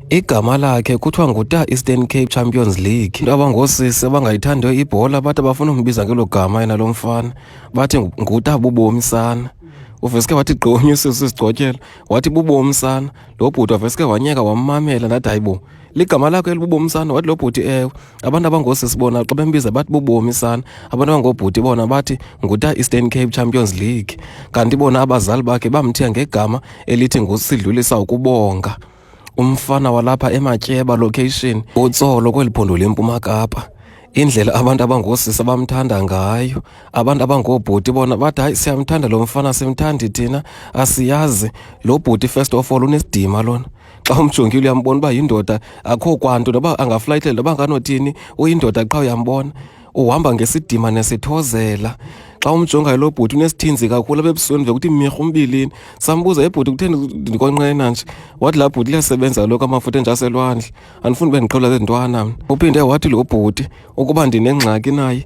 igama lakhe kuthiwa nguta Eastern Cape Champions League into abangoosisi abangayithandiyo ibhola bathi abafuna umbiza ngelo gama yena lo mfana bathi nguta bubomi sana uveske wathi gqonye usisi sigcotyela wathi bubomi sana lo bhuti waveske wanyeka wammamela ndathi hayibo ligama lakho elibubomi sana wathi lo bhuti ewe abantu abangoosisi bona xa bembiza bathi bubomi sana abantu abangoobhuti bona bathi nguta eastern cape champions league kanti bona abazali bakhe bamthiya ngegama elithi ngusidlulisa ukubonga umfana walapha ematyeba location utsolo kweli phondo lempuma kapa indlela abantu abangoosisi abamthanda ngayo abantu abangoobhuti bona bathi hayi siyamthanda lo mfana simthandi thina asiyazi lo bhuti first of all unesidima lona xa umjongile uyambona uba yindoda akho kwanto noba angaflayitele noba nganothini uyindoda qha uyambona uhamba ngesidima nesithozela xa umjongayo lo bhuti unesithinzi kakhulu abebusweni vele kuthi mirha umbilini sambuza ebhuti kutheni ndikonqena nje wathi laa bhuti liyasebenza loko amafutha enjaselwandle andifuni uba ndiqhawula zezintwana mna uphinde wathi lo bhuti ukuba ndinengxaki naye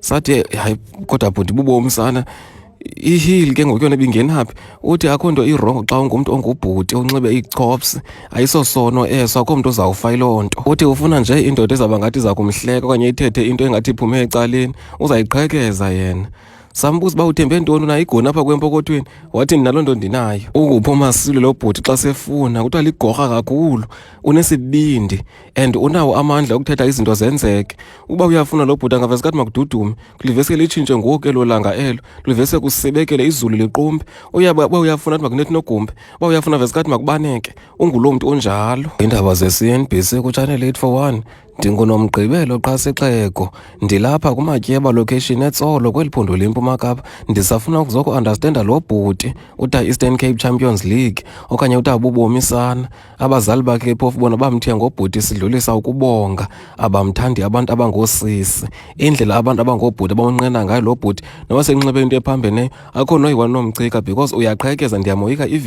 sathi eh, hayi kodwa bhuti bubomi sana ihili ke ngoku yona ibingenaphi uthi akho nto irongo xa ungumntu ongubhuti onxibe iichops ayisosono eso akho mntu uzawufa yiloo nto uthi ufuna nje indoda ezawuba ngathi iza kumhleka okanye ithethe into engathi iphume ecaleni uzayiqhekeza yena sambuza uba uthembe ntoni unayo igoni apha kwempokothweni wathi ndinaloo nto ndinayo ukuphi umasilo lo bhuti xa sefuna kuthiwa ligorha kakhulu unesibindi and unawo amandla okuthetha izinto zenzeke uba uyafuna lo bhuti angavese kathi makududume kulivese litshintshe ngoku elo langa elo kulivese kusebekele izulu liqumbe uba uyafuna athi makunethi nogumbe uba uyafuna vese kathi makubaneke unguloo mntu onjalo iindaba ze-cnbc kutshanel 8 for 1 ndingunomgqibelo qha sixeko ndilapha kumatyeba location etsolo kweli phondo lempuma kapa ndisafuna ukuzokuandastenda lo bhuti uta-eastern cape champions league okanye uta bubomisana abazali bakhe phofu bona bamthiya ngobhuti sidlulisa ukubonga abamthandi abantu abangoosisi indlela abantu abangoobhuti abamnqena ngayo lo bhuti noba senxibe into ephambeneyo akho noyiwanomcika because uyaqhekeza ndiyamoyika even